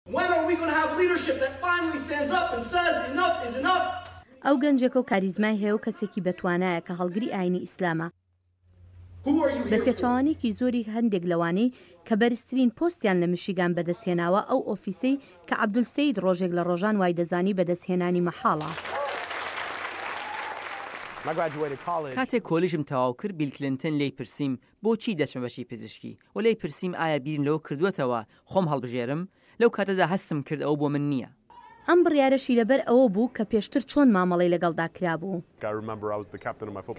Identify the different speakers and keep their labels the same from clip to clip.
Speaker 1: Whether we gonna have leadership that finally stands up and says enough is enough. ئەو گەنجێکە و کاریزمای هەیە و کەسێکی بەتوانایە کە هەڵگری ئاینی ئیسلامە. بە پێچەوانەیەکی زۆری هەندێک لەوانەی کە بەرزترین پۆستیان لە میشیگان بەدەستهێناوە، ئەو ئۆفیسەی کە عەبدولسەید ڕۆژێک لە ڕۆژان وایدەزانی بەدەستهێنانی مەحاڵە.
Speaker 2: کاتێک کۆلیژم تەواو کرد، بیل کلنتن لێی پرسیم بۆچی دەچمە بەشی پزیشکی؟ و لێی پرسیم ئایا بیرم لەوە کردووەتەوە خۆم هەڵبژێرم؟ لەو کاتەدا هەستم کرد ئەوە بۆ من نییە. ئەم بڕیارەشی
Speaker 1: لەبەر ئەوە بوو کە پێشتر چۆن مامەڵەی لەگەڵدا کرابوو.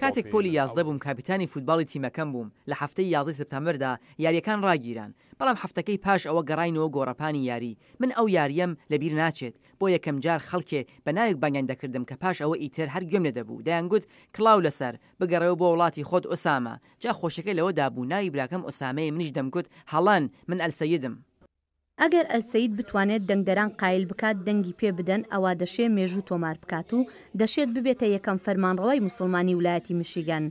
Speaker 2: کاتێک پۆلی یازدە بووم کاپیتانی فووتباڵی تیمەکەم بووم، لە هەفتەی یازدەی سپتامبردا یارییەکان ڕاگیران، بەڵام هەفتەکەی پاش ئەوە گەڕاینەوە گۆڕەپانی یاری، من ئەو یارییەم لە بیر ناچێت، بۆ یەکەمجار خەڵکێ بە ناوێک بانگیان دەکردم کە پاش ئەوە ئیتر هەر گوێم لێ دەبوو، دەیانگوت کڵاو لەسەر، بگەڕێوە بۆ وڵاتی خۆت ئوسامە. جا خۆشیەکەی لەوەدا بوو ناوی براکەم ئوسامەیە منیش دەمگوت هەڵەن من ئەلسەیدم. ئەگەر
Speaker 1: ئەلسەید بتوانێت دەنگدەران قایل بکات دەنگی پێ بدەن ئەوا دەشێ مێژوو تۆمار بکات و دەشێت ببێتە یەکەم فەرمانڕەوای موسڵمانی ولایەتی میشیگەن.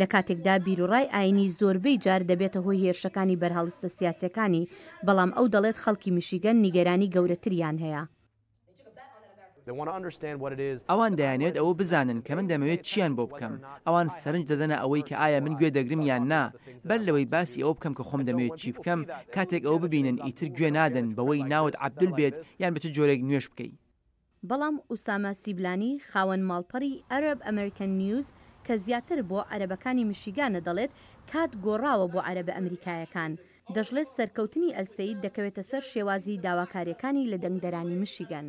Speaker 1: لە کاتێکدا بیروڕای ئاینی زۆربەی جار دەبێتە هۆی هێرشەکانی بەرهەڵستە سیاسیەکانی بەڵام ئەو دەڵێت خەڵکی میشیگەن نیگەرانی گەورەتریان هەیە. ئەوان
Speaker 2: دەیانەوێت ئەوە بزانن کە من دەمەوێت چییان بۆ بکەم. ئەوان سەرنج دەدەنە ئەوەی کە ئایا من گوێ دەگرم یان نا. بەر لەوەی باسی ئەوە بکەم کە خۆم دەمەوێت چی بکەم، کاتێک ئەوە ببینن ئیتر گوێ نادەن بەوەی ناوت عەبدول بێت یان بە چ جۆرێک نوێژ بکەی. بەڵام
Speaker 1: ئوسامە سیبلانی، خاوەن ماڵپەڕی Arab American News کە زیاتر بۆ عەرەبەکانی میشیگانە دەڵێت کات گۆڕاوە بۆ عەرەبە ئەمریکایەکان. دەشڵێت سەرکەوتنی ئەلسەید دەکەوێتە سەر شێوازی داواکارییەکانی لە دەنگدەرانی میشیگەن.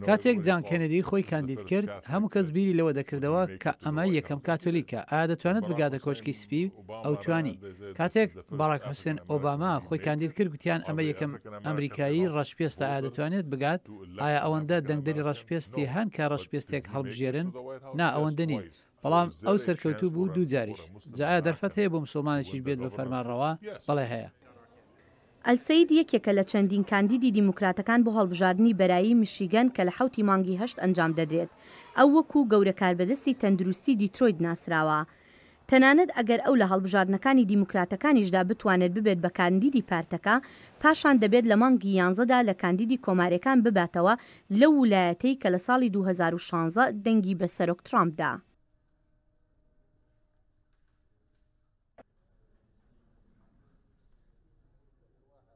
Speaker 3: کاتێک جان کێنێدی خۆی کاندید کرد، هەموو کەس بیری لەوە دەکردەوە کە ئەمە یەکەم کاتۆلیکە، ئایا دەتوانێت بگاتە کۆشکی سپی؟ ئەو توانی. کاتێک باراک حوسێن ئۆباما خۆی کاندید کرد، گوتیان ئەمە یەکەم ئەمریکایی ڕەشپێستە، ئایا دەتوانێت بگات؟ ئایا ئەوەندە دەنگدەری ڕەشپێستی هەن کە ڕەشپێستێک هەڵبژێرن؟ نا، ئەوەندە نین. بەڵام ئەو سەرکەوتوو بوو دوو جاریش جا ئایا دەرفەت هەیە بۆ مسوڵمانێکیش بێت بە فەرمانڕەوا؟ بەڵێ هەیە.
Speaker 1: ئەلسەید یەکێکە لە چەندین کاندیدی دیموکراتەکان بۆ هەڵبژاردنی بەرایی میشیگەن کە لە حەوتی مانگی هەشت ئەنجام دەدرێت. ئەو وەکوو گەورە کاربەدەستی تەندروستی دیترۆیت ناسراوە. تەنانەت ئەگەر ئەو لە هەڵبژاردنەکانی دیموکراتەکانیشدا بتوانێت ببێت بە کاندیدی پارتەکە، پاشان دەبێت لە مانگی یانزەدا لە کاندیدی کۆمارییەکان بباتەوە لەو ولایەتەی کە لە ساڵی دوو هەزار و شانزە دەنگی بە سەرۆک ترامپ دا.